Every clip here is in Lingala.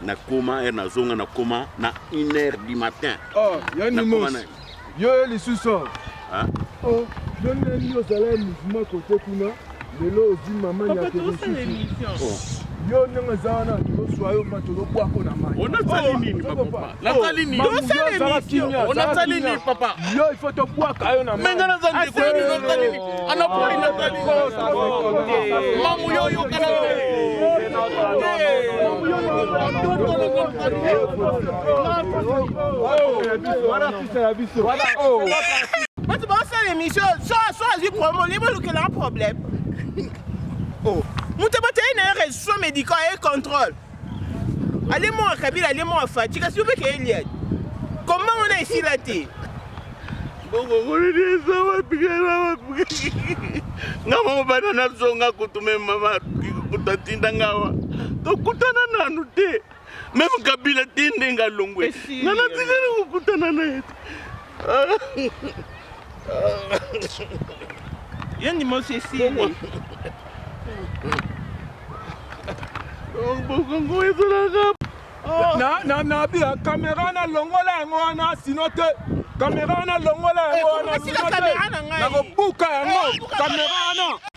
na koma er na zonga na koma na 1 heure du matin oh ya ni mos yo ye lisusu ah oh yo ne ni yo zala mouvement côté kuna lelo ozi mama ya ke lisusu yo ndenge eza wana tozoswa yo ma tozobwako na mai onasali nini nasali nini onasali nini papa yo ifo tobwaka yo na menga naza ndeko yo nini osali nini anapoli nasali nini mamu yo oyokana bato baosala émission so azwi promo libo olukela un problème moto batali na ye resuso médical ye contrôle ale mwa kabila ale mwa faci kasi yo mpe keye liadi komba wana esila te nga moko bana nazonga kutu me mama kutu atinda ngawa tokutana nanu te meme kabila te ndenge alongwe nga natikali kokutana na ye te Yo ni mosi esili. Bongo ezalaka oh. na na na bia kamera na longola yango wana sino te kamera wana longola yango eh, wana sino te nakobuka yango kamera eh, wana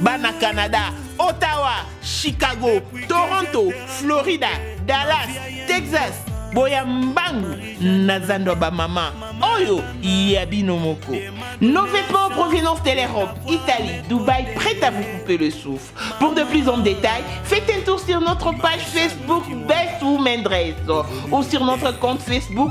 Bana Canada, Ottawa, Chicago, Toronto, Florida, Dallas, Texas, boya mbangu na zando ya bamama oyo ya bino moko nos vêtements provenance de l'europe italie dubaï prêt à vous couper le souffle pour de plus en détail faites un tour sur notre page facebook best women dress ou sur notre compte facebook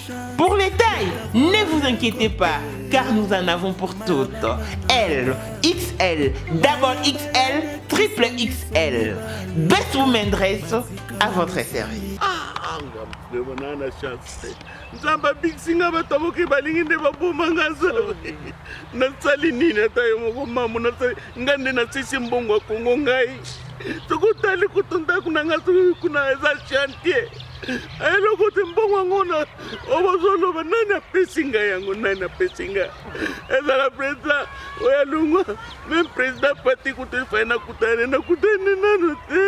Pour les tailles, ne vous inquiétez pas, car nous en avons pour toutes. L, XL, double XL, triple XL. Best Women Dress à votre service. nzambe abikisi nga bato moke balingi nde baboma nga nzambe nasali nini ata yo moko mamo nasali nga nde nasisi mbongo ya kongo ngai soki otali kutu ndako na nga soki kuna eza chantier eloko te mbongo yango na oyo bazoloba nani apesi ngai yango nani apesi ngai ezala président oyo alongwa meme président pati kutu efai nakutane nakutani nanu te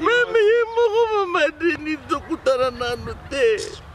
meme ye moko mamadini tokutana nanu te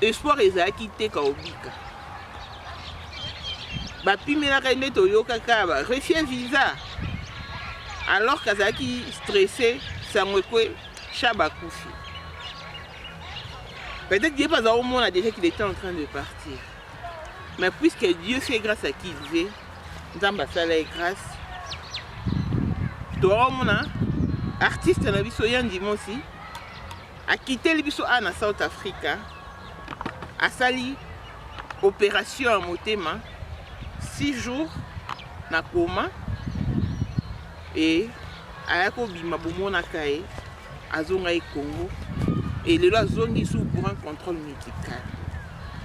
Espoir ezalaki te kaobika bapimelaka ye nde toyokaka ba refie visa alors kazalaki stresse sango ekwe shaba akufi peut-être ye mpe aza komona déjà qu'il était en train de partir mais puisque dieu fait grâce à qui il veut nzambe asala ye grâce toakomona artiste na biso ya ndimosi Akiteli biso awa na South Africa, asali operation ya motema 6 jours na koma e aya kobima bomonaka ye azonga ye Congo et lelo azongi sous pour un contrôle médical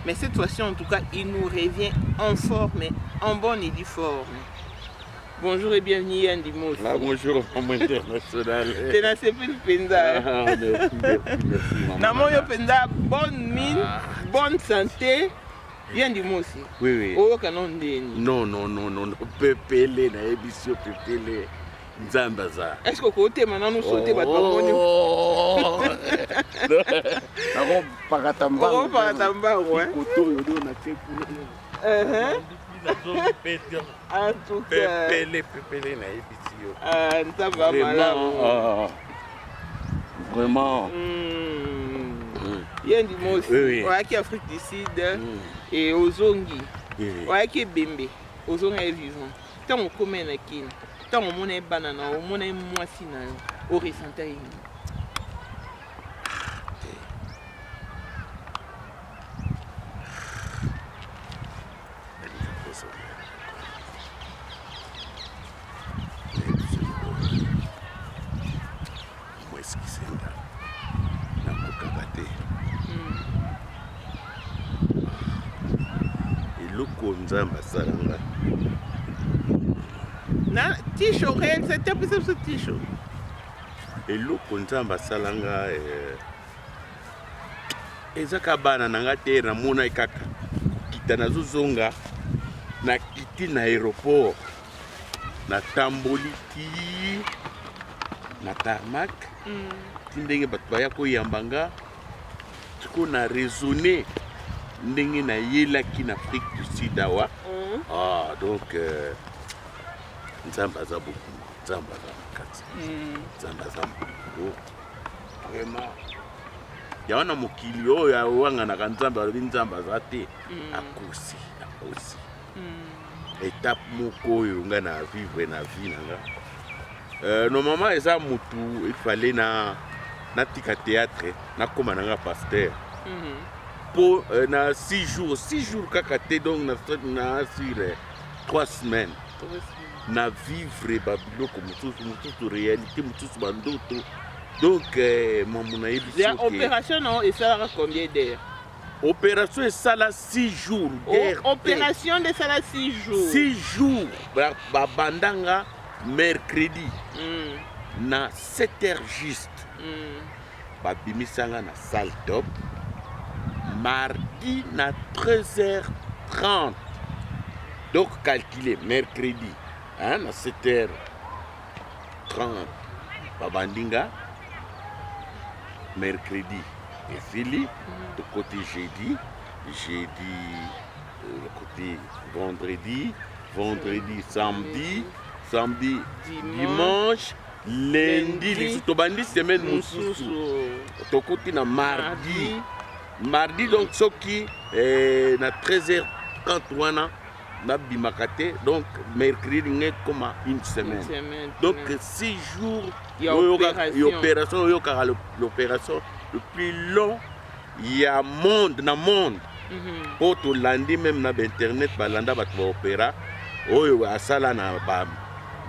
mais cette fois-ci en tout cas il nous revient en forme en bonne et due forme Bonjour et bienvenue Yandi Mosi. Ah, bonjour maman internationale. Te na sepeli penza. Ah, merci, merci, merci maman. Na moyo penza bonne mine, ah. bonne santé. Yandi Mosi. Oui oui. Oyo kana ndeni. Non non non non, pepele na ebisio pepele. nzambe aza eske okotema nanu so te bato bamoni oh. nakopakata mbangokotoyo do na te kuna En tout cas. Pepele, pepele, nayebi ti yo. Ah, nzambe ya malamu. Ah, vraiment. Mm. Mm. Ye ndi mosi. Oui, oui. Oyaki Afrique du Sud. Mm. Et ozongi. Oui, oui. Oyaki ebembe. Ozonga ye vivant. Ntango okoma ye na Kin. Ntango omona ye bana na yo, omona ye mwasi na yo. Oresenta ye nini? nzambe asala nga na tisho okoyebisa te apesa biso tisho eloko nzambe asala nga eh, eza ka bana na nga te namonaki kaka kokita nazozonga nakiti na aéroport natamboli ti na tarmac mm. ti ndenge bato baya koyamba nga sikoyo na raisonne ndenge nayelaki na afrique du sud awa mm. ah, donc euh, nzambe aza bokongo nzambe aza makasi mm. nzambe aza mokolo vraiment yango na mokili oyo awanganaka nzambe alobi nzambe aza te mm. akosi akosi mm. etape moko oyo ngai na vivre na vie na nga euh, normalement eza motu efale na natika théâtre nakóma na nga pasteur mm-hmm. mpo euh, na six jours six jours kaka te donc na, na sur euh, trois semaines na vivre ba biloko mosusu mosusu réalité mosusu ba ndoto donc eh, mamu nayebisi ya opération na esalaka combien d'heure opération esala 6 jours guerre opération nde esala 6 jours 6 jours babanda nga mercredi mm. na 7 heures juste mm. babimisanga na salle top mardi na 13h30 donc calcule mercredi hein, na 7h30 babandi nga mercredi esili mhm. tokoti jeudi jeudi euh, côté vendredi vendredi samedi samedi dimanche Lundi lisusu tobandi semaine mosusu tokuti na mardi mardi donc soki eh, na 13h30 wana nabimaka te donc mercredi ngai ekoma une semaine donc six jours opération oyokaka l'opération le plus long ya monde na monde mpo mhm. tolandi meme na bainternet balanda bato baopéra oyo asala na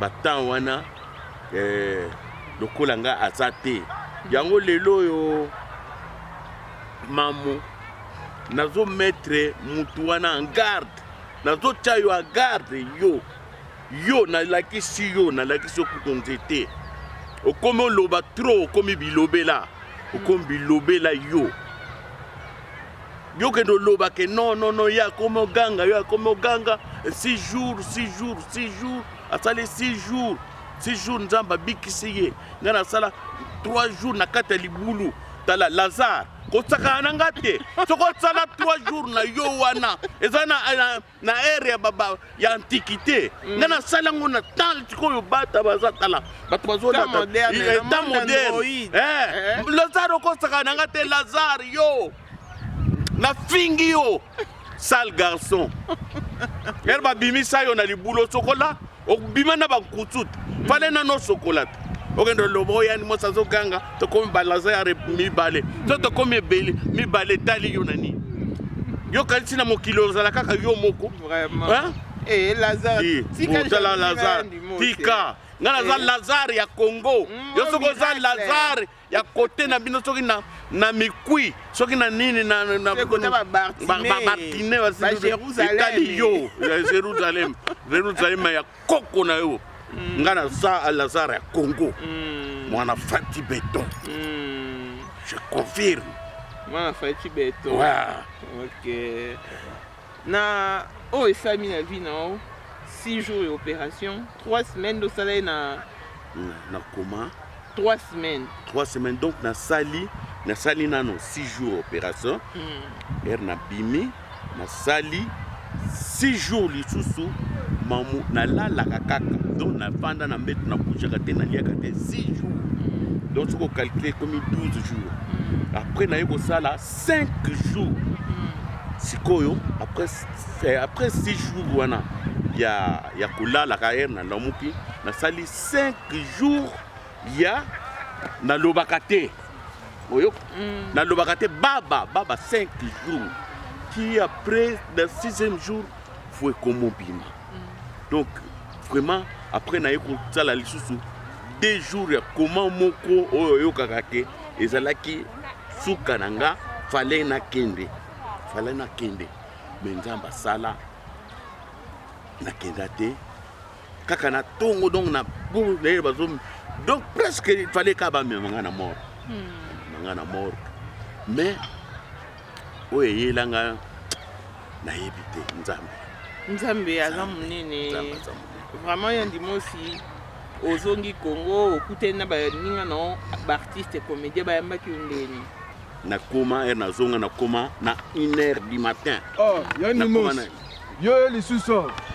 batemps wana eh, lokola nga aza te yango lelo oyo mamu nazo mettre mutu wana en garde nazotya yo en garde yo yo nalakisi yo nalakisi yo kutu nzete okomi oloba trop okomi bilobela okomi bilobela yo yo kende oloba ke non non non ye akomi oganga yo akomi oganga six jours six jours six jours asali 6 jours 6 jours nzambe abikisi ye ngai nasala 3 jours na kati ya libulu tala lazare kosakana na ngai te soki osala 3 jours na yo wana eza na, na, na ere ya, baba, ya antiquité mm. ngai nasala yango na temps sikoyo bata baza tala bato bazolata temps eh, moderne eh, eh. lazare okosakana na ngai te lazare yo nafingi yo sale garçon ere babimisa yo na libulu osokola obima na bankutut fale nano osokola te okende oloba oyo yani mosi azoganga tokomi balaza ya mibale to tokomi ebele mibale etali yo na nini yo kanisi na mokili ozala kaka yo moko eh, tika nga naza lazare ya congo mm, yo soki oza lazare ya kote na bino soki na na mikui soki na nini na na bartine etali yo ya Jerusalem Jerusalem ya koko na yo mm. nga na sa Lazare ya Congo mm. mwana Fati Beton mm. je confirme mwana Fati Beton ouais. okay Na oyo esalami na vie na yo 6 jours ya operation 3 semaines dosala ye na na koma 3 semaines 3 semaines donc nasali nasali nano 6 jours opération mm. ere nabimi nasali 6 jours lisusu mamu nalalaka kaka donc nafanda na mbeto na bougaka te naliaka te 6 jours donc soki okalcule ekomi 12 jours mm. après naye kosala 5 jours sikoyo après, eh, après 6 jours wana ya, ya kolalaka ere na lamuki nasali 5 jours ya nalobaka te oyo mm. nalobaka te baba baba 5 jours ti après na 6e jour fo ekomobima mm. donc vraiment après naye kosala lisusu 2 jours ya koma moko oyo oyokaka te ezalaki suka na nga fale nakende fale nakende me nzambe asala nakenda te kaka na tongo donc na leyele bazo donc presque fale kaka bamema nga na mort hmm. nga na mort mais oyo eyelanga nayebi te nzambe nzambe aza monene vraiment ya ndimosi ozongi congo okutani na baninga na baartiste comédien bayambaki yo ndeni nakoma ere nazonga nakoma na une heure du matin oh, yo lisusu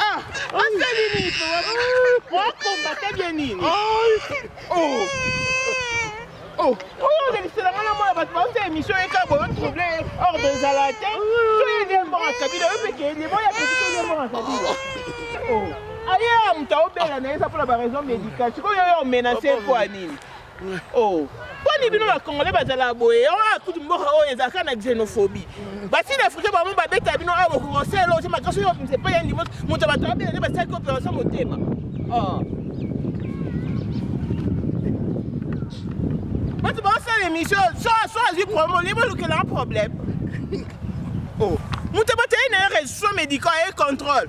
Ah, asali nini mpe wakombata bya nini oyodelisela ngana mwana bato bauta émission eka boyo trouble ordre ezala te soyede mbonga kabila yo mpe keyede boya peki soyede mbonga kabila aye moto aobela na ye eza mpona baraison médicale sikoyo yo omenase mpo ya nini oh boni bino bakongole bazala boye yango ah, akuti mboka oyo ezalaka na xenophobie basini africain bango babeta bino awa kokosela ozo makasi oyo msepa ya ndimo moto bato babela nde basalaki opération motema ah. bato bakosala émission so azwi problème olie bolukela un problème oh. moto batali na ye resution médical ye contrôle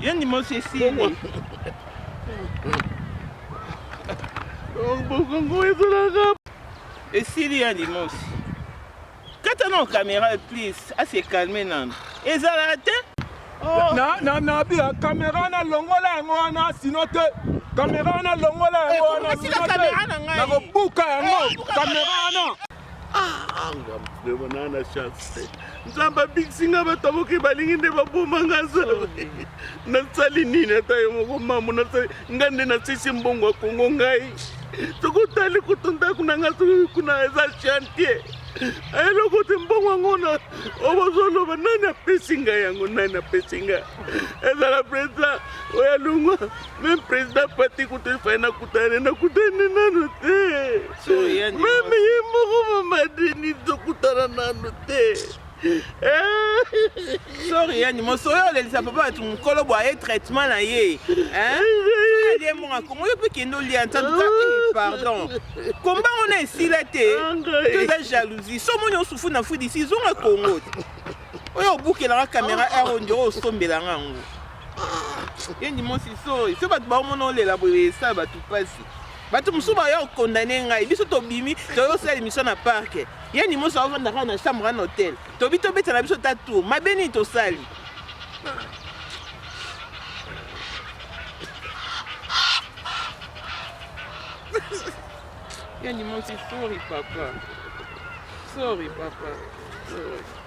Yo ni mosi esili. Bongo ezalaka. Esili ya ni mosi. Kata na kamera please, ase calme nanu. Ezala te. Oh. Na na na bi kamera na longola yango wana sino te. Kamera na longola yango eh, wana sino te. Na kobuka yango. Eh, kamera na. anga mdema naa na chance te nzambe abikisi nga bato moke balingi nde baboma nga zala nasali nini ata yo moko mamo nasali nga nde nasisi mbongo ya kongo ngai soki otali kutu ndako na nga soki kuna eza chantier eloko te mbongo yango na obozoloba nani apesi nga yango nani apesi nga ezala president oyo alongwa Meme président Fati kutu ifai nakutane nakutane nanu te. Meme ye moko mama Denis tokutana nanu te. Sorry yani mosoyo olelisa papa batu mokolo bwa ye traitement na ye. Ye moko akomo yo mpe kende olia nta tuka eh, pardon. Komba ona esila te. Toza jalousie. Somo nyo sufu na fudi si zonga Congo. Oyo obukelanga kamera ero ndio osombelanga yango. yendi mosi so so bato baomona olela boye esala bato mpasi bato mosusu baya okondane ngai biso tobimi toyei osala émission na parke yendi mosi aovanda kaka na chambre na hotel tobi tobeta na biso ta tour mabe nini tosali yendi mosi sorry papa sorry papa sorry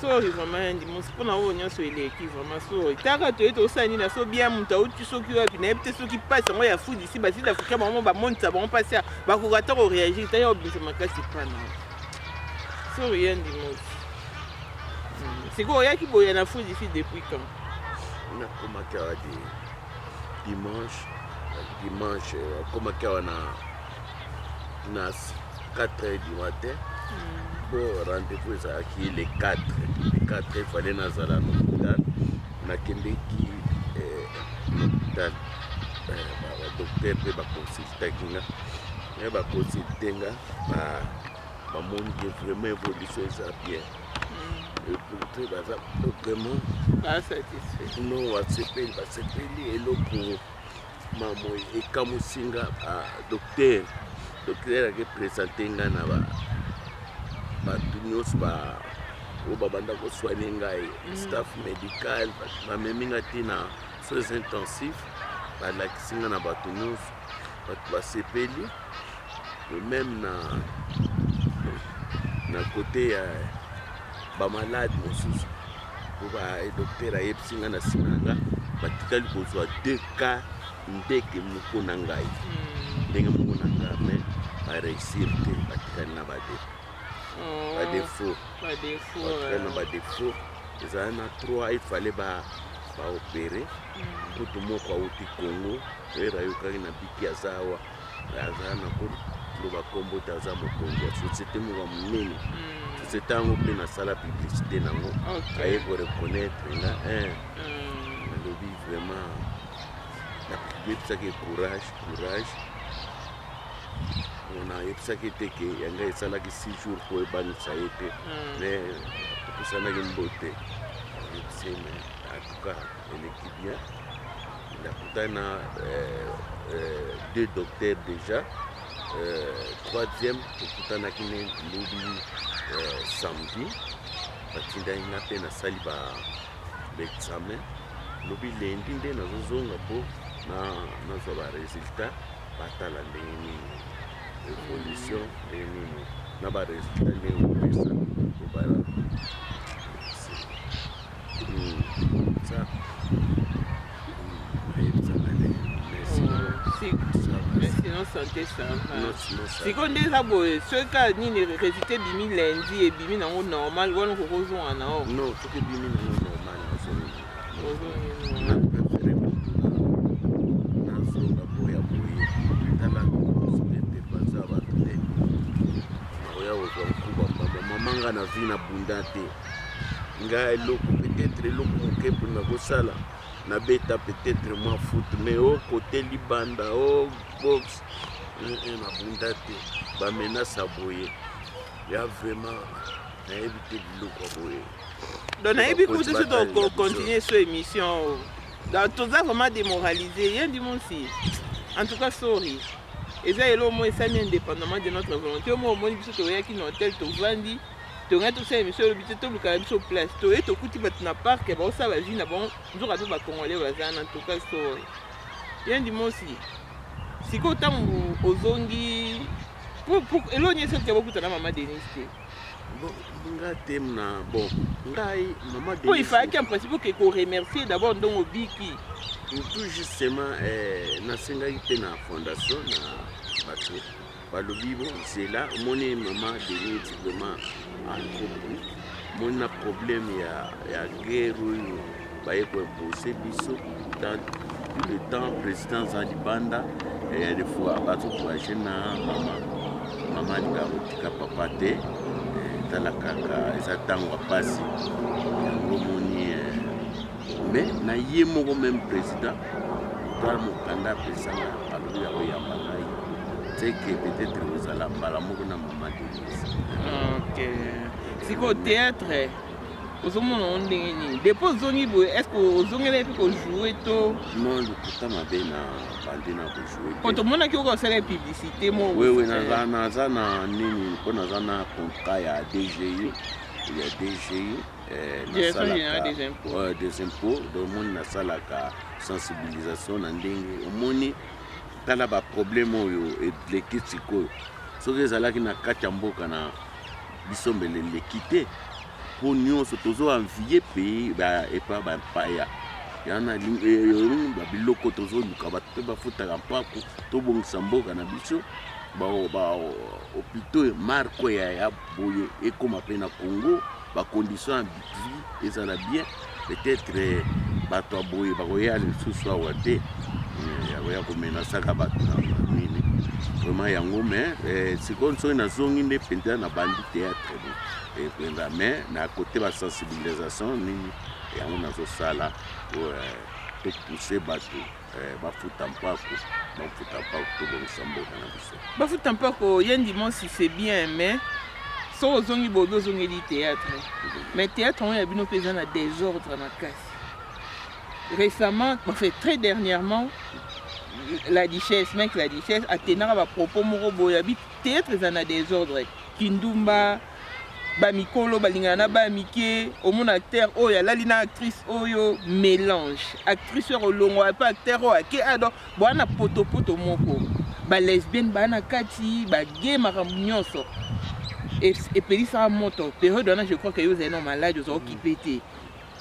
sorry vraiment ya ndimosi mpona oyo nyonso eleki vraiment sorry taka toye tosala nini aso bien moto auti soki wapi nayebi te soki mpasi yango ya fudi si basili afrika bango bamonisa bango mpasi ya bakoka ata koreagir ta ya obimisa makasi mpana sorry ya ndimosi hmm, sikoyo oyaki boya na fudi si depuis quand nakomaki awa dimanche dimanche akomaki awa na na 4 heures du matin po rendez-vous ezalaki le 4 le 4 efale nazala na hôpital nakendeki eh, na hôpital eh, badokter mpe baconsultaki nga me baconsulte nga bamoni ke vraiment évolution eza bien epourte baza vraiment non basepeli basepeli eloko Mamoy ekamusi nga ba docteur docteur ake presente nga na ba bato nyonso ba oyo babanda kosoigne ngai mm. staff médical bamemi nga te na soins intensif balakisi nga na bato nyonso bato basepeli meme na na kote ya bamalade mosusu po ba docteur ayebisi nga na nsima na nga batikali kozwa 2 cas ndeke moko na ngai hmm. ndenge moko na ngai mais bareusir te batikali na bade badefaut batikali na badefaut ezala na 3 ifale ba baopere hmm. kutu moko awuti congo oyeba ayokaki na biki aza awa aza na koloba nkombo te aza mokonzi ya société moko ya monene hmm. société yango mpe nasala publicité nango aye koreconnaitre nga eh. hmm. nalobi vraiment nayebisaki courage courage nayebisaki te ke yanga esalaki six jours mpo ebanisa ye te mais hmm. tokusanaki mbote yebisi me atuka eleki bien nakutani na euh, euh, deux docteurs déjà euh, troisième tokutanaki ne lobi samedi batindaki nga mpe nasali ba examen lobi lendi nde nazozonga mpo nazwa ba résultat batala ndenge nini évolution ndenge nini na ba résultat ndenge opesa obala sante sikoyo nde eza boye soki kaka nini résultat ebimi lundi ebimi nango normal wana okoki ozonga na o non soki ebimi nango normal nazonga boya boye tala baza bato te nakoya kozwa nkuba mbamba mama nga na vi na bunda te nga eloko peut-être eloko moke mpo nakosala nabeta peut-être mwa foot mais o oh, kote libanda o oh, box nabunda eh, eh, te bamenasa boye ya vraiment nayebi te biloko boye donc nayebi kutu so tokocontinue so émission oh. donc toza vraiment démoralise ye ndi monsi en tout cas sorry eza eloko moko esami indépendamment de notre volonté oyo moko omoni biso toyaki na hotel tovandi tongani tosala émission olobi te toluka na biso place toye tokuti bato na parc ya baosala bavie na bango nzoka mpe bacongolais baza na toka sor ya ndimosi sikoyo ntango ozongi elo nyesi otika bokuta na mama denis te nga te na bon ngai mama denis mpo ifalaki en principe oke koremercier d'abord ndongo obiki tout justement eh, nasengaki mpe na fondation na bato balobi bo zela omoni mama denise vraiment ankopo omoni na problème ya, ya guerre oyo baye koimpose biso dans tout le temps président aza libanda ya des fois bazokourage na mama mama alinga kotika papa te tala kaka eza ntango ya mpasi yango omoni Mais na ye moko meme president tala mokanda apesanga alobi yango yamba ngai teke peut-être ozala mbala moko na mama denise ok sikoyo théâtre ozomona yango ndenge nini depo ozongi boye est ce que ozongela epi kojoue to non lokuta mabe na bandi na kojoue po tomonaki oka osala publicité moko wewe naza na nini mpo naza na contrat ya dgi ya dgi Eh, nasalaka des impôts donc omoni nasalaka sensibilisation na ndenge omoni tala baproblème oyo eleki sikoyo soki ezalaki na kati ya mboka na biso mbele eleki te mpo nyonso tozoanvie pays epa bampaya yana eh, babiloko tozoluka bato mpe bafutaka mpako tobongisa mboka na biso bahopitaux marko ya boye ekóma mpe na congo ba conditions ya vie ezala bien peut-être eh, bato ya boye bakoya lisusu awa te eh, yakoya komenasaka bato na nini vraiment yango me eh, sikoyo soki nazongi nde mpenza na bandi théâtre mpenza me na kote basensibilisation nini yango nazosala po topousse bato Eh, bafuta mpako bafuta mpako tobongisa mboka na biso bafuta mpako ye ndimosi c'est bien mais soki ozongi bobi ozongeli théâtre mais théâtre yango ya bino mpe eza na désordre makasi récemment enfin très dernièrement la duchesse mec la duchesse atenaka bapropos moko boye abi théâtre eza na désordre kindumba mm. ba mikolo balingana na ba mike omona acteur oyo alali na actrice oyo mélange actrice oyo olongwa epa acteur oyo ake ado boa na potopoto moko ba lesbienne baa na kati bage makambo nyonso epelisaka moto periode wana je crois ke yo ozali na maladi oza okipe te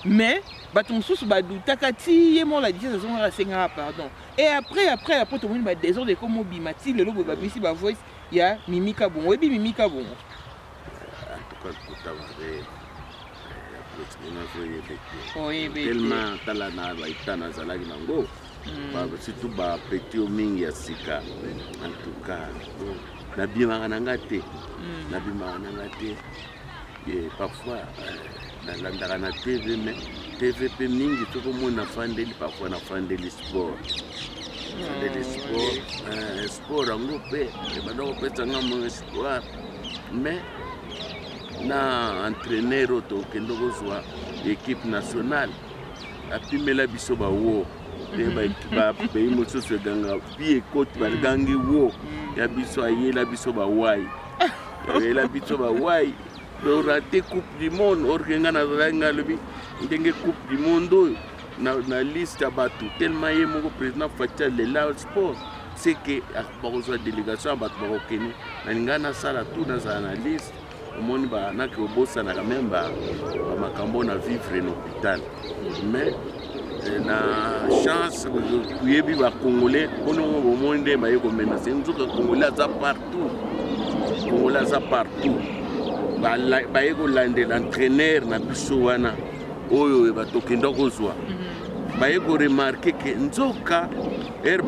mais bato mosusu badutaka ti ye moko ladise azongaka asengaka pardon e après après après tomoni badesordre ekomobima ti lelo boye babimisi bavoice Ya Mimi Kabongo, oyebi Mimi Kabongo? En tout cas, kuta mabe. Tellement tala na baita nazalaki nango hmm. surtout bapeti oyo mingi ya sika en tout cas nabimaka na nga te hmm. nabimaka na nga te Eh, parfois euh, nalandaka na tv mais tv mpe mingi soki omoni nafandeli parfois nafandeli sport nafandeli hmm, sport euh, sport yango mpe ebanda kopesa nga mo espoir mais na entraîneur oyo tokende kozwa équipe nationale apimela biso bawo mpe mhm. bapays mosusu eganga pi ekoti bagangi wo hmm. ya biso ayela biso bawai oyela biso bawai dorate coupe du monde orke nga nazalaki nga alobi ndenge coupe du monde oyo na, na liste ya bato tellement ye moko président fati alela sport se ke ah, bakozwa délégation ya bato bakokende nalinga nasala tout nazala na liste omoni banake obosanaka meme bamakambo na vivre na hôpital mais eh, na chance oyebi bacongolais mpono bomoni nde baye komenase nzoka congolais aza parti Congolais aza partout baye kolandela entraîneur na biso wana oyo bato okenda kozwa mhm. baye koremarke ke nzoka ere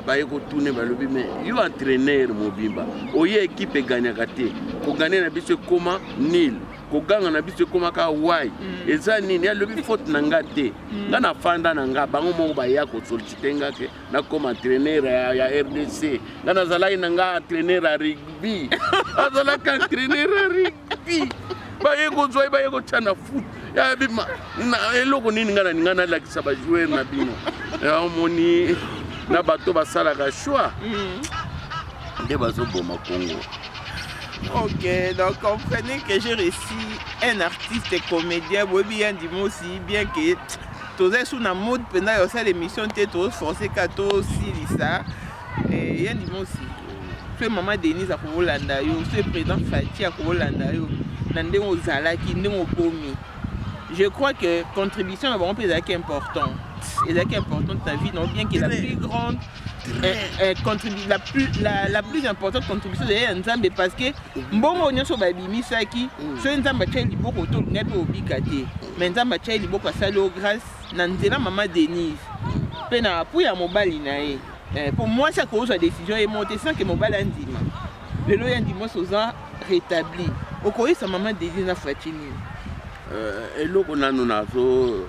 baye kotune balobi me yo entraîneur mobimba oye ekipe eganyaka te kogane na biso ekoma nil koganga na biso ekoma kaka wai mm. eza nini alobi faute na nga te mm. nga nafanda na nga bango moko baya kosolicite nga ke nakoma entraîneur ya, ya rdc nga nazalaki na nga entraîneur ya rugby azalaki entraîneur ya rugby baye kozwa ye baye kotya na foot ya bima na eloko nini nga naninga nalakisa bajoueur na bino omoni na bato basalaka choix mm. nde bazoboma kongo Ok, donc comprenez que j'ai réussi un artiste comédien, Bobby Andimosi, bien que toza sur na mode mpenza ya kosala émission te tozo force ka tosilisa eh, ya limosi soki mama denise akokolanda yo soki président fati akokolanda yo na ndenge ozalaki ndenge okomi je crois que contribution na bango mpe ezalaki importante ezalaki importante na vie na bien que la plus grande Eh, eh, la, plus, la, la plus importante contribution ezali ya nzambe parce que mbongo nyonso babimisaki mm. soki nzambe atyai liboko to olingai mpe obika te mais nzambe atyai liboko asali o grâce na nzela mama denise mpe na apui ya mobali na ye mpo eh, mwasi akozwa décision ye moko te sanke mobali andima lelo ya ndima mwasi oza rétabli okoyisa mama denise na fati nini eloko nanu nazo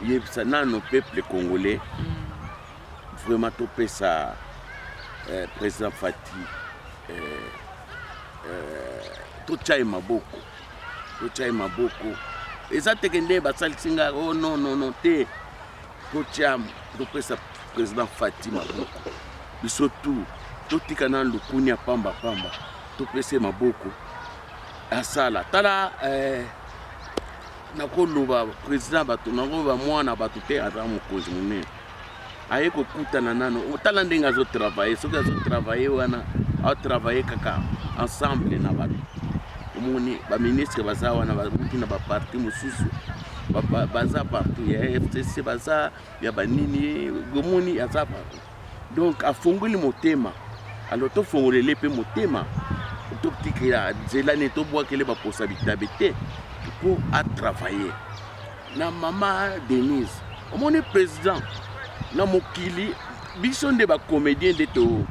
yebisa nanu peuple congolais mm. Vraiment topesa eh, président Fati eh, eh, totya ye maboko totya ye maboko eza teke nde basalisi nga o oh, non non non te totya topesa président Fati maboko biso tu totika na lukunia pamba pamba topesa ye maboko asala tala eh, nakoloba président bato nakoloba mwana bato te aza mokonzi monene aye kokutana nano otala ndenge azo travaille soki azo travaille wana atravaille kaka ensemble na bato omoni baministre baza wana bamuki na baparti mosusu baza partout ya fcc baza ya banini omoni aza partout donc afongoli motema alors tofongolele mpe motema totikela nzela nini tobwakele baposa bitabe te mpo atravaille na mama Denise omoni président na mokili biso nde ba comédien nde to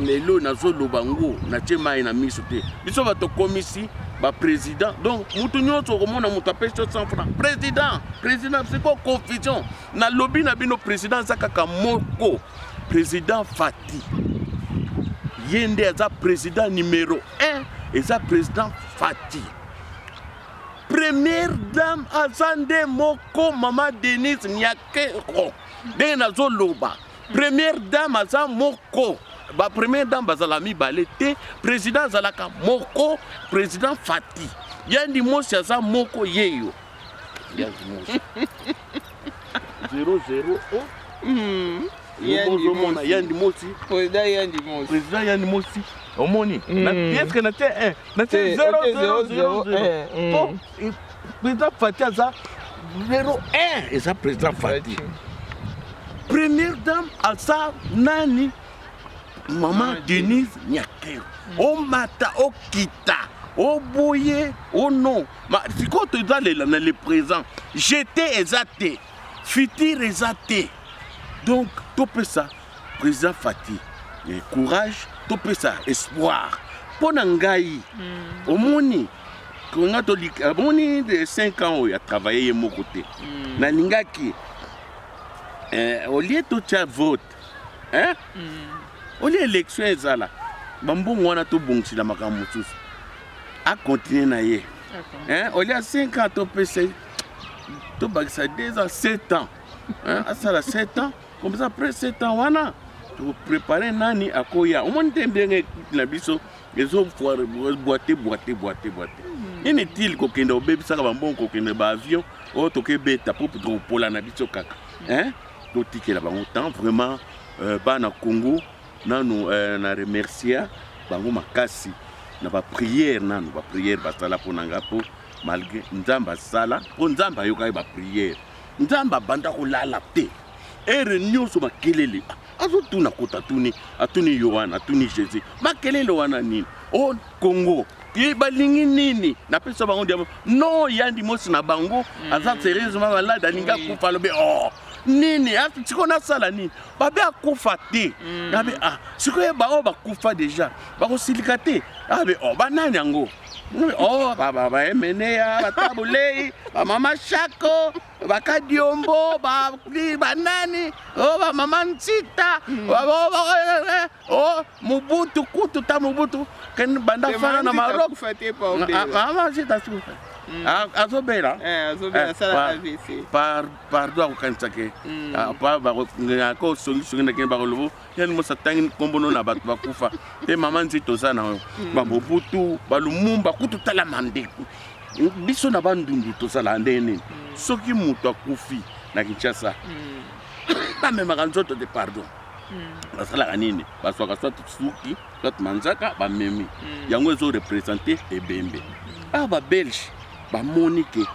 lelo nazoloba ngo natie mai na miso te biso bato komisi baprésident donc motu nyonso okomona moto apesi yo 100 franc président président siko confusion nalobi na bino président aza kaka moko président fati ye nde aza président numero 1 eza président fati Première dame aza nde moko mama Denise Nyakero ndenge nazoloba première dame aza moko ba première dame bazala mibale te président azalaka moko président Fati yandi mosi aza moko yeyo yandi mosi 00 oh. mm. ozomona yandi mosi president yandi mosi president yandi mosi omoni eske na te 1 na te 000 po president fati aza lelo 1 eza president fati première dame aza nani mama denise nyakero omata okita oboye o oh non sikoyo tozalela na le présent jete eza te futur eza te Donc topesa président Fatih eh, courage, topesa espoir mpo na ngai mm. omoni konga tolika omoni de 5 ans oyo atravaille ye moko te mm. nalingaki eh, olie totya vote eh? mm. olie élection ezala bambongo wana tobongisela makambo mosusu akontinue na ye okay. eh? olie 5 ans topesa tobakisa 2 ans 7 ans hein, asala 7 ans comme ça après 7 ans wana tokoprepare nani akoya omoni te ndenge ekipe na biso ezoboite boite boite boite hmm. nini tile kokende obebisaka bambongo kokende baavion oyo oh, tokebeta mpo tokopola na biso kaka hein? totikela bango temps vraiment euh, bana congo nanu euh, na remercia bango makasi na bapriere nanu bapriere basala mpo na ngai mpo malgré nzambe asala mpo nzambe ayokaki bapriere nzambe abanda kolala te ere nyonso makelele azotuna kota atuni atuni yohana atuni jésus makelele wana nini o oh, kongo ye balingi nini napesa bango diamo no yandi mosi na bango hmm. aza serieusement malade alingi akufa alobi o oh, nini sikoyo nasala nini babe akufa te hmm. nabe ah sikoyo baoyo bakufa deja bakosilika te abe o oh, banani yango Oh, ba ba ba emeneya ba tabulei ba mama shako ba kadiombo ba ni ba nani oh ba mama nsita ba ba ba eh, eh, oh mubutu kutu ta mubutu ken banda fana na Maroc Ah, mama nsita sufa Ah, azobela Eh, azobela, Eh, asala pa- AVC. par- pardon akokanisa ke Mm. Ah, pa- bako- nga- ko songisongi na kende bakolobo Ken Mosa tangi nkombo no na bato bakufa mpe mama nzito oza na yo mm. bamobutu balumumba kutu tala mandeku biso na bandundu tozalaka ndenge nini mm. soki moto akufi na kinshasa mm. bamemaka nzoto te pardon basalaka nini bazwaka soit suki soit manzaka bamemi yango ezo represente ebembe awa babelge bamoni ke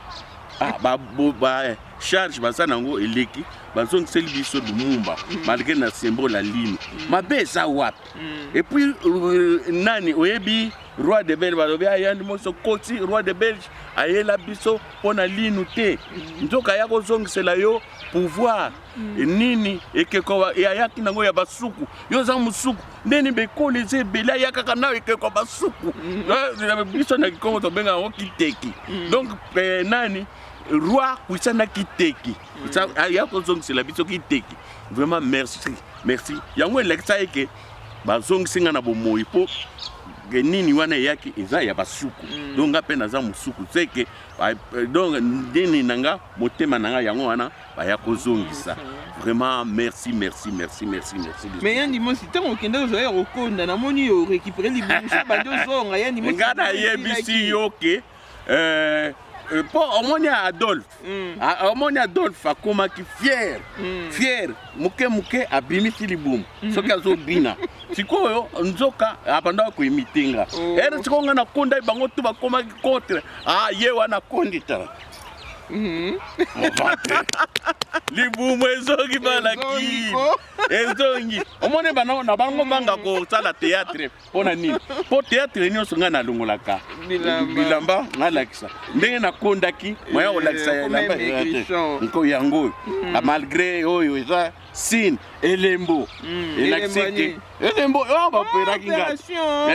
Ah, ba, bo, ba eh, charge baza nango eleki bazongiseli biso lumumba malgré na sembo la lino mabe eza wapi et puis euh, nani oyebi roi de belge balobi ayandi moso koti roi de belge ayela biso mpo na linu te nzoka ya kozongisela yo pouvoir e nini ekeko ayaki nango ya basuku yo oza mosuku ndeni bekoli eza ebele ayakaka nao ekeko basuku mm. biso na kikongo tobenga yango kiteki mm. donc eh, nani roi kuisa na kiteki mm. aya kozongisela biso kiteki vraiment merci merci yango elekisa eke bazongisi nga na bomoi mpo ke nini wana eyaki eza ya basuku mm. donc nga mpe naza mosuku seke eh, donc nini na nga motema na nga yango wana baya kozongisa vraiment merci merci merci merci merci mais ya ndimosi ntango okende ozwa ya kokonda namoni yo récupéré libongo so bandi ozonga ya ndimosi nga nayebisi yo ke euh, euh, po omoni adolphe mm. ah, omoni adolphe akomaki fiere mm. fiere moke moke abimisi libumu mm. soki azobina sikoyo nzoka abandaka koimite nga oh. ere sikoyo nga nakonda bango tu bakomaki contre ah, ye wana akonditala Mhm. libumu ezongi balaki ezongi omoni bana na bango mhm. banga kosala teatre mpo na nini mpo teatre nyonso ngai nalongolaka bilamba nalakisa ndenge nakondaki moya kolakisa eh, elamba nko yango oyo mhm. ah, malgré oyo eza sine elembo elakisiki elembo oyo oh, baperaki oh, ngai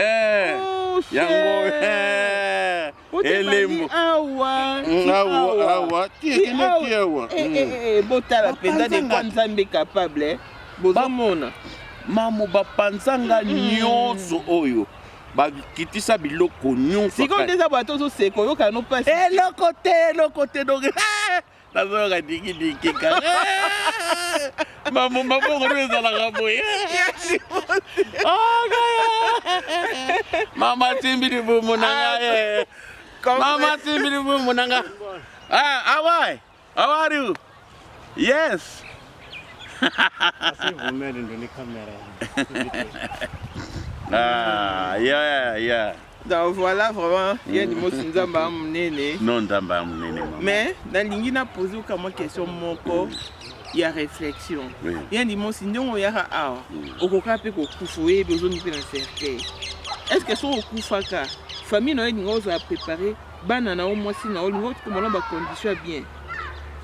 eh, oh, yango eh. elembo awa mm, awa awa tiekende awa eh, mm. eh, eh, botala mpenza de quoi nzambe capable bozomona mamu bapanza nga mm. nyonso oyo bakitisa biloko nyonso sikoyo nde eza bato ozoseka oyokana no mpasi eloko te eloko te donc nazoyoka dikidiki kaka mambo maboko nde ezalaka boye mama timbi libumu na ngai mama timbi libumu na ngai ah, awai how are you yes ah, yeah, yeah. Donc voilà vraiment ya limosi nzambe ya monene non nzambe ya monene mais nalingi na pose oka mwa question moko ya réflexion ya limosi ndenge oyaka awa okoka mpe kokufa oyebi ozondi mpe na cercueil est ce que soki okufaka famille na yo elingi ozala prépare bana na yo mwasi na yo olingi okomona bacondition ya bien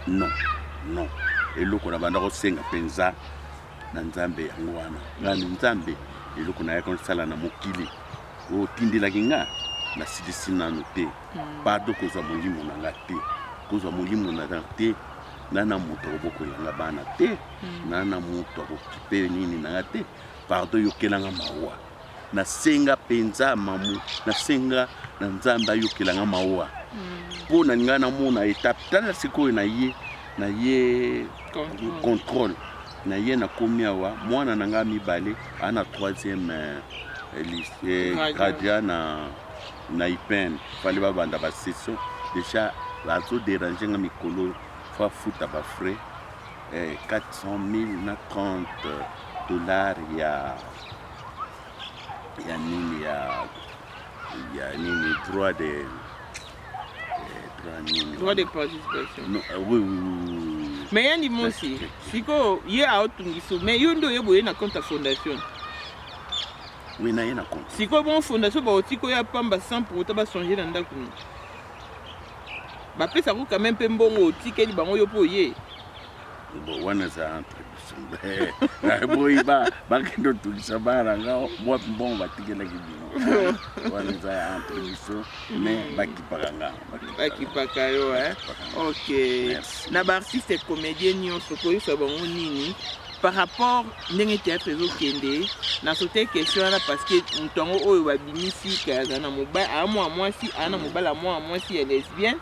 non non eloko na banda kosenga mpenza na nzambe yango wana nani nzambe eloko nayaki kosala na mokili Otindelaki nga, nasilisi nanu te. Pardon kozwa molimo na nga te. Kozwa molimo na nga te. Nga na moto akobokolela nga bana te. Nga na moto akokipe nini na nga te. Pardon yokela nga mawa. Nasenga penza mamu, nasenga na Nzambe ayokela nga mawa. Mpo na nga namona etape, tala sikoyo na ye, na ye contrôle na ye nakomi awa mwana na ngai mibale aa na troisième gradia eh, eh, na na ipene fale babanda basession déjà bazoderange nga mikolo fo afuta bafrais 400 eh, 000 na 30 dollar ya ya nini ya ya nini droit de droit de participation non, euh, oui, oui, oui. mais ya ndimosi sikoyo ye aotungisa mais yo nde oye boye na compte ya fondation oui naye na compte sikoyo bongo fondation baoti koya pamba sans pour autant bachange na ndako no bapesa yango quand même mpe mbongo otikeli bango yo mpo oye wana eza entre boyi ba bakende otungisa bana nga mwapi mbongo batikelaki bino wana eza ya entre biso me bakipaka nga bakipaka yo e ok na baartiste comédien nyonso koyebisa bango nini par rapport ndenge théâtre ezokende na sote question wana parce que moto yango oyo babimisi kayaza na mobali aa mwa mwasi aa na mobali ya mwa mwasi ya lesbienne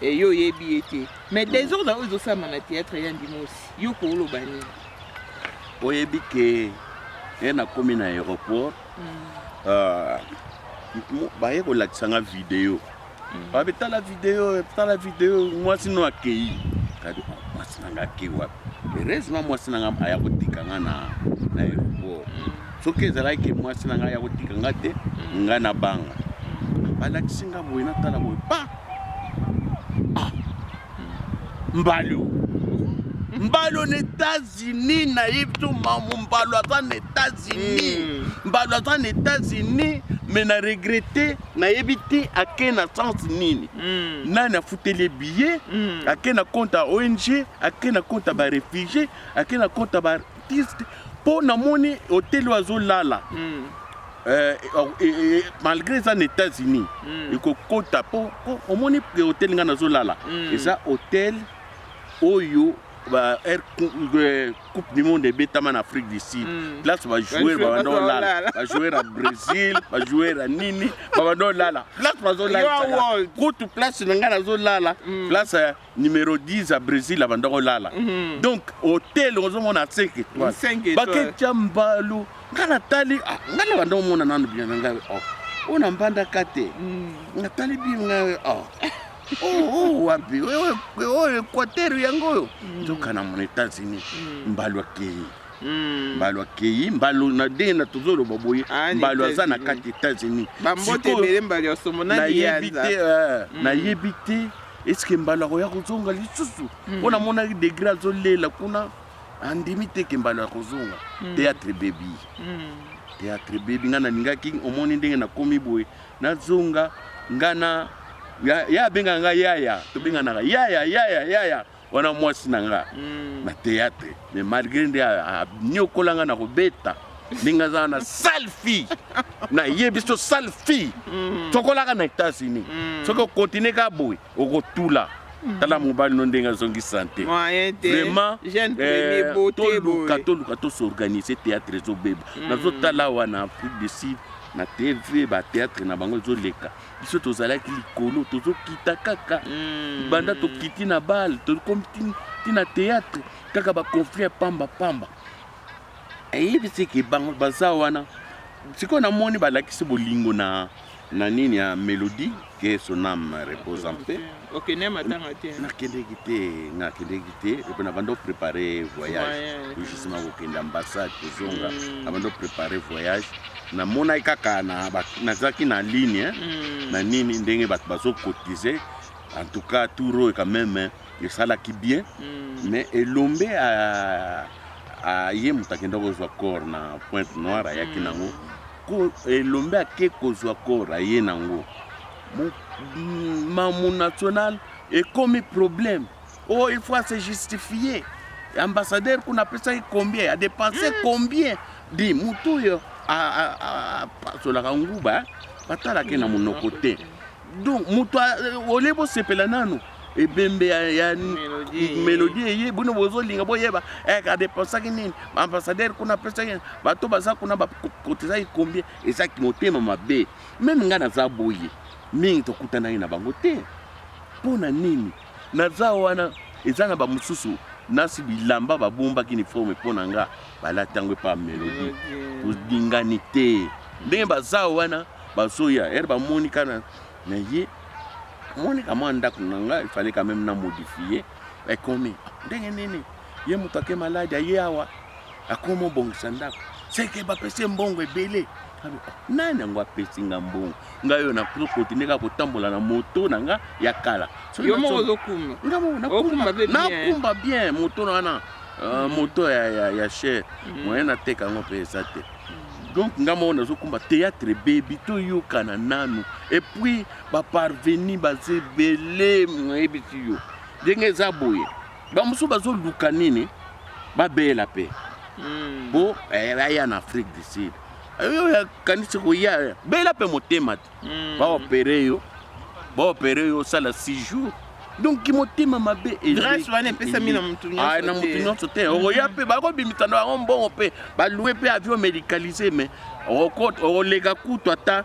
eyo oyebi ye te Mais desordre oyo ezosalama na théâtre ya Ndimosi, yo kooloba nini? Oyebi ke ye nakomi na aéroport ah, mo- baye kolakisa nga video babi tala video tala video mwasi no akei kadi "Ah, mwasi na nga akei wapi heureusement mwasi na nga aya kotika nga na na aéroport soki ezalaki ke mwasi na ngai ya kotika nga te nga na banga balakisi nga boye natala boye pa ah. mbalio mbalio na etats-unis nayebi to mamu mbalio aza na etats-unis hmm. mbalio aza na etats-unis me na regrete nayebi te ake na sens nini hmm. nani afuteli ye billet hmm. ake na compte ya ong ake na compte ya barefugie ake na compte ya artiste po namoni hotel oyo azolala mm. Euh, eh, eh, eh, malgré eza na états-unis mm. ekokota po omoni hotel ngai nazolala mm. eza hotel oyo ba air euh, coupe du monde ebetama na afrique du sud mm. place bajoueur babanda olala bajoueur ya brésil bajoueur ya nini babanda olala place bazolala kutu place na ngai nazolala mm. place numero 10 ya brésil abanda kolala Mhm. donc hotel ozomona 5 étoile Cinq étoiles. baketya mbalu ngai natali ah, ngai nabanda komona nano bien na ngai oh. oyo na mbandaka te Mm. natali bien ngai oh. Oh, oh, wapi Oyo- oyo equateur yango oyo nzoka na mona états-unis Mm. mbalu akei Mm. mbalu akei mbalu na ndenge na tozoloba boye Ah, ni mbalu aza na États-Unis. kati états-unis bambote Sikoyo, ebele mbali ya somo na nayebi liyanza te eh, nayebi te eske mbalo akoya kozonga lisusu hmm. mpo namonaki degre azolela kuna andimi te ke mbalo ya kozonga hmm. teatre bebi hmm. teatre bebi ngai nalingaki omoni ndenge nakomi boye nazonga ngai na ya abengaka ngai yaya tobenganaka yaya yaya yaya wana mwasi na nga mm. na théâtre mais malgré nde aniokola nga na kobeta ndenge azala na sale fille nayebi so sale fille mm. soki olaka na états-unis mm. soki okontinue ka boye okotula mm. tala mobali no ndenge azongi sante vraiment eh, toluka toluka tosorganise théâtre ezobeba nazotala wana afrique du sud na tv bathéâtre na bango ezoleka biso tozalaki likolo tozokita kaka mm. banda tokiti na bale tokomi ti na théâtre kaka baconflit ya pamba pamba eyebisi ke bango baza wana sikoyo namoni balakisi bolingo na na nini ya mélodie ke son ame repose en paix okende matanga te nakendeki te nakendeki te epe na bando prépare voyage justement kokende ambassade kozonga na bando prépare voyage namonaki kaka nazalaki na ligne hmm. na nini ndenge bato bazokotize en tout cas tour oyo quand même esalaki bien hmm. mais elombe aye moto akenda kozwa corps na pointe noire ayaki hmm. nango elombe ake kozwa corps aye nango Mamu national ekomi problème oyo oh, il faut se justifier ambassadeur kuna apesaki combien adepense hmm. combien di motu oyo apasolaka nguba eh? batalaki na monoko te donc moto euh, olie bosepela nanu ebembe ya melodi eye bino bozolinga boyeba eh, adepensaki nini baambassadeur kuna apesaki bato baza kuna bakotizaki combien ezaki motema mabe Meme nga naza boye mingi tokutanaki na bango te mpo na nini naza wana eza na bamosusu nasi bilamba babombaki uniforme mpo na nga balati yango epa melodi tolingani te ndenge baza wana bazoya ere bamoni kana na ye moni kamwa ndako na nga efale kameme na modifie ekomi ndenge nini ye moto ake maladi aye awa akomi obongisa ndako seke bapesi ye mbongo ebele nani yango apesi nga mbongo ngai oyo nakokontinue kaka kotambola na moto na nga ya kala nakumba bien moto na wana euh, mm. moto ya chere mm. moyen nateka yango mpe eza te mm. donc nga moko nazokumba théâtre ebebi toyokana nanu epuis baparveni baza ebele moyebisi yo ndenge eza boye bamosusu bazoluka nini babela mpe hmm. po eh, aya na afrique du sud oyo yakanisi koya bela mpe motema te hmm. baopere yo baopere yo osala 6 jours donc kimotema mabe grâce wana epesami na motu ah, na motu nyonso te mhm. okoya mpe bakobimisa na bango mbongo mpe balue mpe avion médicalise mais okoleka kutu ata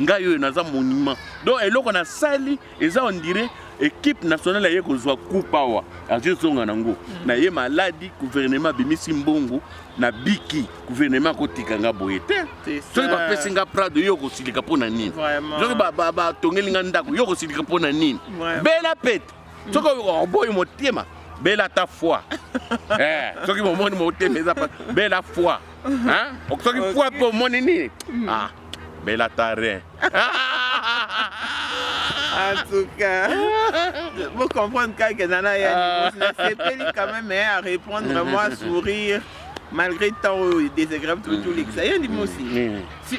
ngai oyo naza monument donc eloko nasali eza ondire ekipe nationale aye kozwa coupe awa azwi ezonga nango mm. na ye maladi guvernema abimisi mbongo na biki guvernema akotika nga boye te soki bapesi nga prado yo okosilika mpo na nini soki batongeli nga ndako yo okosilika mpo na nini bela pete mm. soki oboyi motema bela ta foi eh, soki momoni motema eza bela foi soki foi mpe omoni nini mm. ah. Bella Tarin. en tout cas vous comprenez que nana ya ah. nasepeli quand même hein, à répondre vraiment à sourire malgré tant oyo désagréable tout lekisa ye ndimi osi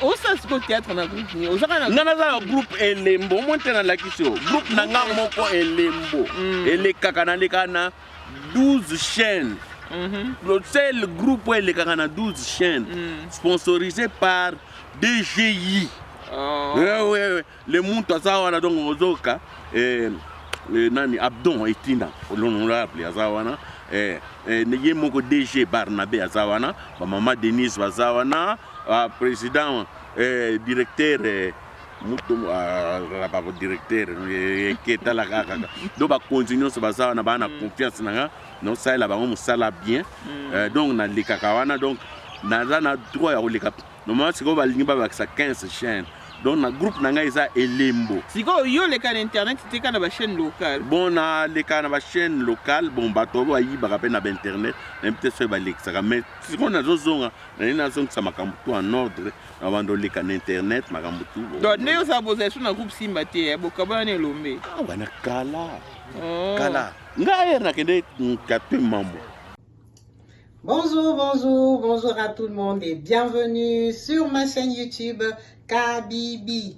osala sikoyo théâtre na groupe nini ozaka na nga naza na groupe elembo omoni te nalakisi yo groupe na nga moko elembo mm. elekaka nalekaka na 12 chaînes mm le seul groupe oyo elekaka na 12 chaînes mm. sponsorisé par dgi oh. eh, oui, oui. le muntu aza wana donc ozoka eh, eh, nani abdon etina l'honorable aza wana eh, eh, ye moko dg barnabe aza wana bamama denise baza wana ah, président eh, directeur eh, moto azalaka ko directeur eketala kaka donc bakonzi nyonso baza wana baa na mm. confiance na nga naosalela bango mosala bien mm. euh, donc nalekaka wana donc naza na droit ya koleka normalement sikoyo balingi babakisa 15 chaîne donc na groupe na ngai eza elembo sikoyo yo oleka na internet teka na bachaîne locale bon naleka na bachaîne locale bon bato oyo bayibaka mpe na bainternet nayebi te soki balekisaka mais sikoyo nazozonga naye nazongisa makambo to en ordre Abanda oleka na internet makambo tu. Donc ndenge osala bozala lisusu na groupe Simba te, eh, bokabwana na elombe. Ah, wana kala. Oh. Kala. Nga ayer nakende kape mambo. Bonjour, bonjour, bonjour à tout le monde et bienvenue sur ma chaîne YouTube Kabibi.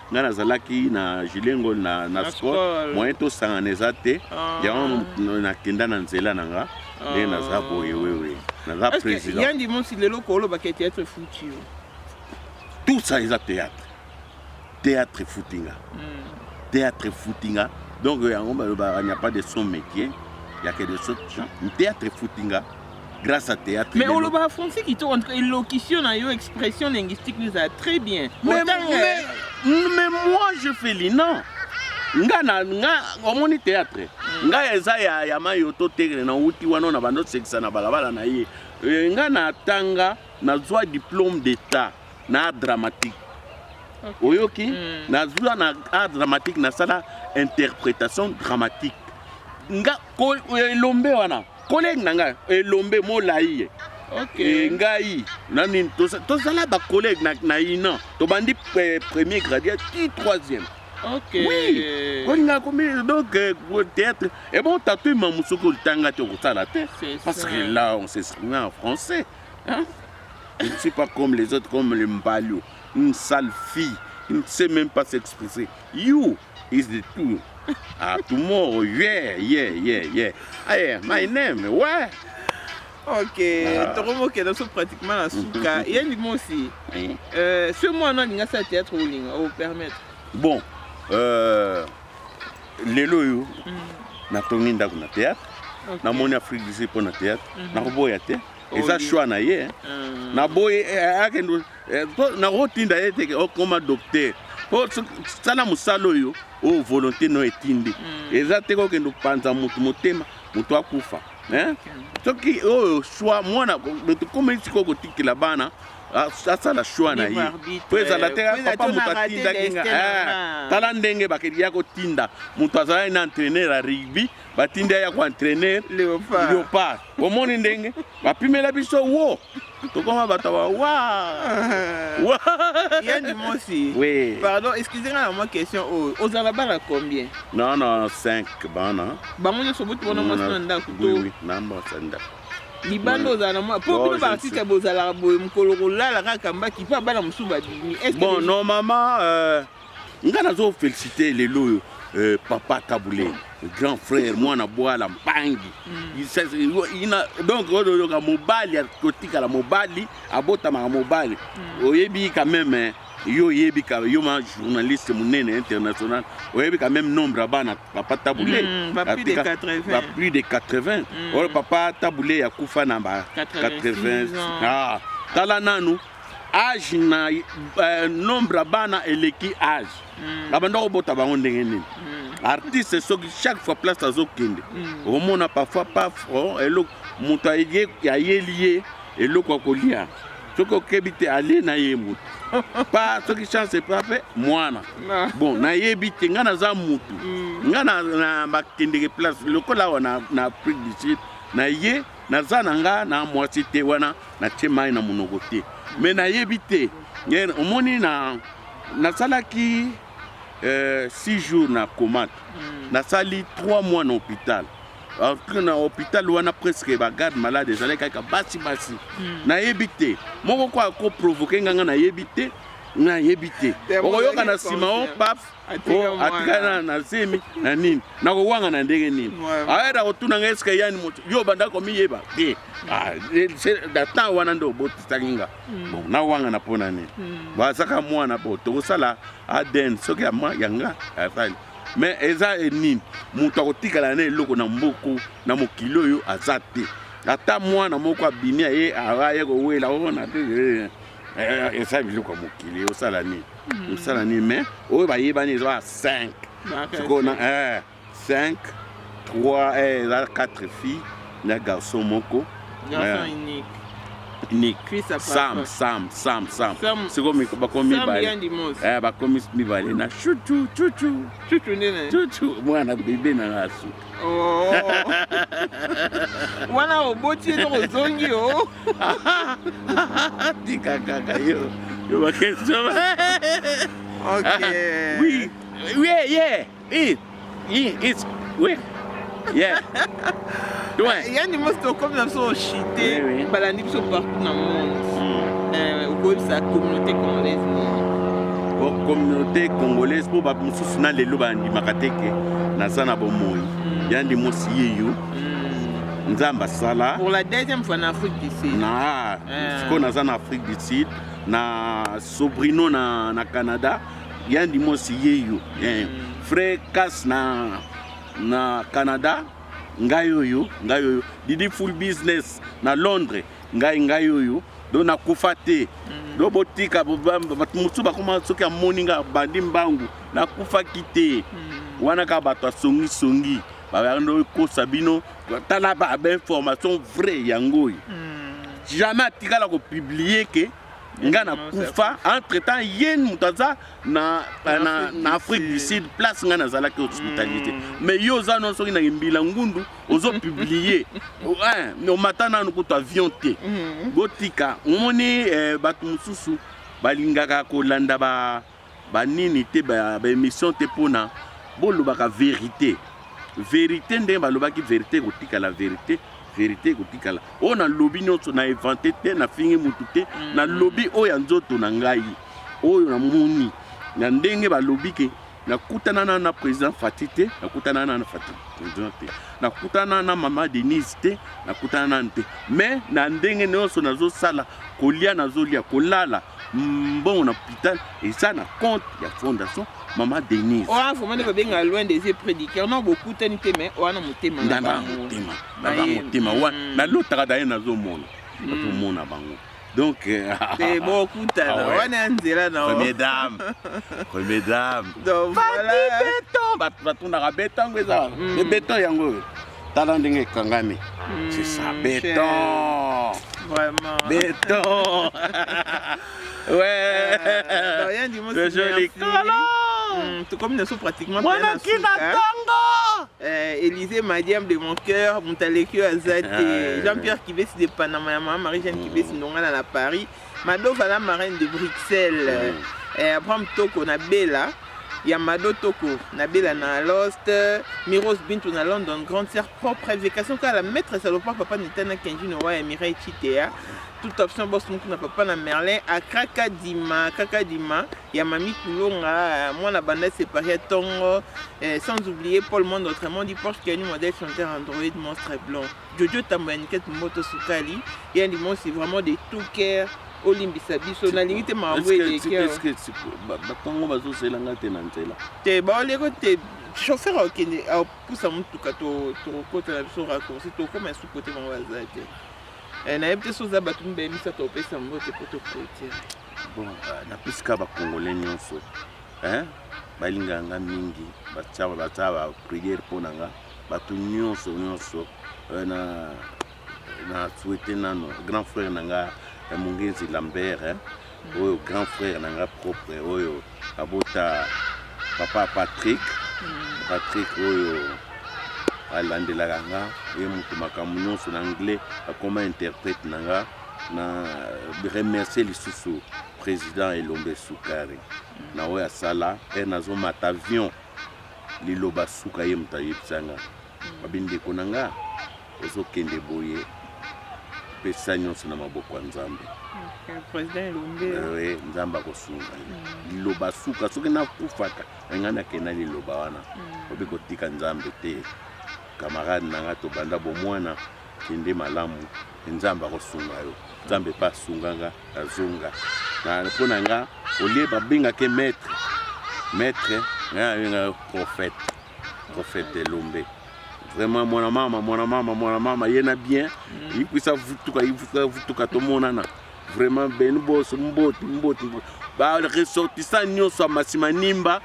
ngai nazalaki na Julien Ngol na, na, na sport moyen tosangana eza te ah. yango nakenda na nzela na nga nde ah. naza boye wewe naza président yandi monsi lelo koolobaka ya théâtre futi yo tout ça eza théâtre théâtre futi nga hmm. théâtre futi nga donc yango balobaka n'y a pas de son métier ya que de son théâtre futi nga grâce à théâtre mais oloba français kitoko en tout cas elocution na yo expression linguistique nous a très bien mais, mais, mais moi je fais lina nga na nga omoni théâtre mm. nga eza ya ya mayo to tegre na wuti wana na bando sekisa na balabala na ye eh, nga na tanga na zwa diplôme d'état na dramatique okay. oyoki mm. na zwa na art dramatique na sala interprétation dramatique nga ko elombe wana Collègue na ngai elombe molayi ye. Okay. E, ngai nani tozala ba collègue na, na ina tobandi eh, premier gradien ti troisième Okay. Oui. Kolinga komi donc euh, théâtre. Et bon, t'as tout maman soko le tanga te okosala te. Parce ça. que là, on s'exprime en français. Hein? Je ne suis pas comme les autres, comme les Mbalio. Une sale fille. Il ne sait même pas s'exprimer. You, is the two ah tomorrow yeah yeah yeah yeah ah yeah my name ouais ok ah. tokomokenda so pratiquement na suka ye ndima osi ce mois no alinga asala théâtre olinga opermettre bon euh, lelo oyo mm. natongi ndako na théâtre namoni afrique du sud mpo na théâtre mhm. nakoboya te eza choix na ye ah. naboyi eh, akende Eh, po nakotinda ye teke okoma docteur po sala mosala oyo oyo volonté no etindi mm. eza te kokende opanza motu motema motu akufa eh? soki oyo shwa mwana tokomeli sikoyo kotikela bana asala shwa na ye po ezala te papa moto atindaki nga eh, tala ndenge bakeli ya kotinda moto azalaki na entraîneur ya rugby batindi ya koentraîneur léopard omoni ndenge bapimela biso wo tokoma bato ba wa wa ya ndimosi Oui. pardon excuse nga na mwa question oyo ozala bana combien Non, non, 5 bana. bango nyonso boti bona mwasi na ndako Oui, to oui, na mwasi na ndako. libanda ozala na mwa po Non, bino je baartiste suis- bozalaka boye mokolo kolala kaka mbaki mpe bana mosusu babimi Est-ce que Bon, les- normalement, euh, nga nazo felicite lelo oyo euh, papa tabule grand frère mwana bwala mpangi ina donc oyo oyoka mobali akotikala mobali abotamaka mobali oyebi quand même eh, yo oyebi ka yo ma journaliste monene international oyebi quand même nombre ya bana papa tabule Mm, ba plus de Atika- 80. ba plus de 80 oyo papa tabule akufa na ba 86 80 ans. ah tala nanu age na euh, nombre ya bana eleki age mm. babanda kobota bango ndenge nini mm. artiste soki chaque fois place azokende mm. omona parfois paf oh, eloko moto ayeli ye eloko akolia soki okebi te alie na ye motu pa soki chance epa mpe mwana bon nayebi te ngai naza motu mm. ngai na bakendeke place lokola awa na afrique du sud na ye naza na nga na mwasi te wana natie mai na monoko te me nayebi te omoni na nasalaki euh, six jours na comate mm. nasali trois mois na hôpital na hôpital wana presque bagarde malade ezalaki kaka basi basi mm. nayebi te moko ko akoprovoke nganga nayebi te nayebi te okoyoka na nsima o paf Oh, atika na nasemi na nini nakowanga na ndenge nini ayeda kotuna nga eske yani moto yo banda komiyeba te ah, na temps wana nde obotisaki nga hmm. bon nawanga na mpona nini hmm. bazaka mwana po tokosala adn soki ya mwa ya nga asali mais eza e nini moto akotikala na eloko na mboku na mokili oyo aza te ata mwana moko abimi aye aye kowela ona oh, te eh, eh, eh. Eh, eh, eh, eza biloko ya mokili osala nini hmm. osala nini mais oyo bayebani eza 5 sikoyo na 5 3 eza 4 fille na garçon moko unique sam sam sam sam sikoyo bakomi bakomi mibale na chuchu chuchu chuchu mwana bebe na nasuka Oh. wana oboti ye noko ozongi o oh. tika kaka yo yo bakestion okay. oui oui yeah oui it's oui yeah yani mosi tokomi na biso oshite balandi biso partout na monde hmm. eh, okoyebisa communauté congolaise nini communauté congolaise mpo bato mosusu na lelo bandimaka te ke naza na bomoi hmm. yandi mosi yeyo hmm. nzambe asala pour la deuxième fois na afrique du sud na eh. sikoyo naza na afrique du sud na sobrino na, na canada yandi mosi yeyo eh. frais cas na, na canada ngai oyo ngai oyo didi full business na londres ngai ngai oyo do nakufa te mm. do botika bato mosusu bakoma soki amoni ngai abandi mbangu nakufaki te mm. wana kaka bato asongisongi bayando ekosa bino tala bainformation vrai yango oyo mm. jamais atikala kopiblie ke nga na kufa entre temps ye moto aza na, na, na, na afrique du sud place nga nazalaki hospitalité mm. mais yo oza no soki na mbila ngundu ozo publie omata nanu kutu avion te mm. botika omoni eh, bato mosusu balingaka kolanda ba ba nini te ba emission te pona bolobaka verite verite ndenge balobaki verite ekotikala verite verite ekotikala oyo nalobi nyonso na evante te nafingi motu te mm. nalobi oyo ya nzoto na ngai oyo namoni na ndenge balobi ke nakutana na na président fati te nakutana na na fati président te nakutana na mama denise te nakutana nanu te mais na ndenge nyonso nazosala kolia nazolia kolala mbongo na hopital eza na compte ya fondation mama denise oa vraiment nde babenga loin des yeux prédicateur non bokutani te mais oa na motema na motema na motema wana mm. nalotaka daye nazomona nakomona mm. bango donc euh, te bokutana ah wana ya nzela na première dame première dame donc voilà beton bato batondaka beton yango eza mm. beton yango oyo tala ndenge ekangami c'est ça beton vraiment beton ouais rien du mot le joli kala tokomi na so pratiquement mwana kina tongo Élysée Madiam de mon cœur, Montalekio Azate, Jean-Pierre Kibesi de Panama, Marie-Jeanne Kibesi, Ndongana à Paris, Mado vala marraine de Bruxelles mm. eh, Abraham Toko na Bella ya Mado Toko na Bella na Lost Miros Bintu na London grande sœur propre évocation kala maître salopard papa Nitana Kenji no wa Mireille Chitea toute option boss moko na papa na Merlin à Kraka Dima Kraka Dima ya Mami Kulonga moi na banda séparé Tongo eh, sans oublier Paul Monde autrement dit Porsche Kenny modèle chanteur Android monstre blanc Jojo tambo ya niket moto sukali ya ndimosi vraiment de tout cœur olimbisa biso nalingi te makambo elekibatongo bazozela nga te na nzela te baoleko te chauffeur akende apusa motuka tokota na biso raccourci tokoma esu kote bango baza te eh, nayebi te soza bato mibale misato opesa yango te po tokote bon ah, napesika bakongole nyonso balingaka nga mingi batia bapriere mpo na nga bato nyonso nyonso euh, na na souhaite nano grand frère na nga ya mongenzi lambert eh, oyo grand frère na nga propre oyo abota papa patrick mm. patrick oyo alandelaka nga ye moto makambo nyonso na anglais akoma interprète na nga na remercie lisusu président elombe sukari mm. na oyo asala mpe nazomata avion liloba suka ye moto ayebisa nga babi ndeko na nga ozokende boye pesa nyonso na maboko ya nzambe eh, nzambe akosunga ye mm. liloba suka soki nakufaka engai nakenda liloba wana mm. obi kotika nzambe te kamarade na nga tobanda bomwana kende malamu nzambe akosunga yo nzambe mpe asunganga nazonga mpo na nga olie babengake maître maître nga abengaka prophète prophète de lombe vraiment mwana mama mwana mama mwana mama ye na bien mm. yikwisa vutuka yivutuka vutuka tomonana vraiment beni boso mboti mboti mboti baressortissant nyonso ya masima nimba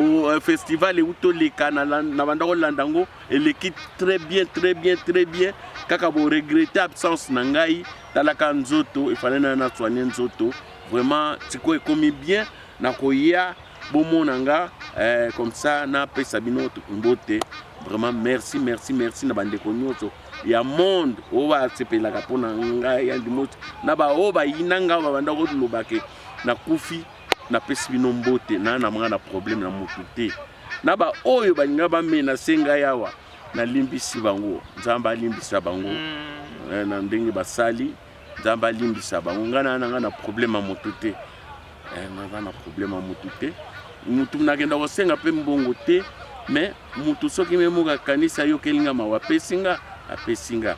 euh, festival euti oleka na banda kolanda yango eleki très bien très bien très bien kaka bo regrette absence na ngai talaka nzoto efale nayo na soigne nzoto vraiment sikoyo ekomi bien nakoya bomona nga eh, comme ça napesa bino mbote vraiment merci merci merci na bandeko nyonso ya monde oyo basepelaka mpo na ngai ya ndimoto na baoyo bayina ngai babanda kolobake nakufi napesi bino mbote na na mwana problème na motu te na ba oyo balinga ba mena senga yawa na limbisi bango nzambe alimbisa bango mm. eh, na ndenge basali nzambe alimbisa bango ngai na nanga na problème ya motu te eh, naza na problème ya motu te motu nakenda kosenga mpe mbongo te mais motu soki me moko akanisi ayokeli nga mawa apesi nga apesi nga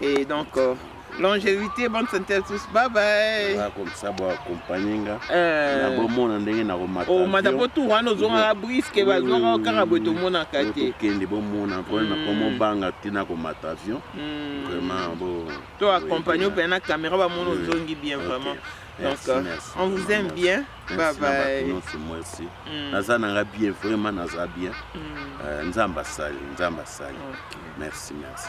Et donc, euh, longévité, bonne santé à tous. Bye bye. Voilà, comme ça, bon, accompagner nga. Euh... Na bon monde ndenge na komata. Oh, mata po tout wana zonga la brisque ba zonga kaka bo to mona kate. Kende bon mona po na ko mo banga tina ko mata avion. Hmm. Vraiment bon. To accompagner pe na caméra ba mono zongi bien vraiment. Donc, euh, on vous aime bien. Merci na bato nyonso mwasi. Mm. Naza na nga bien vraiment naza bien. Mm. Uh, nzambe asali, nzambe asali. Okay. Merci, merci.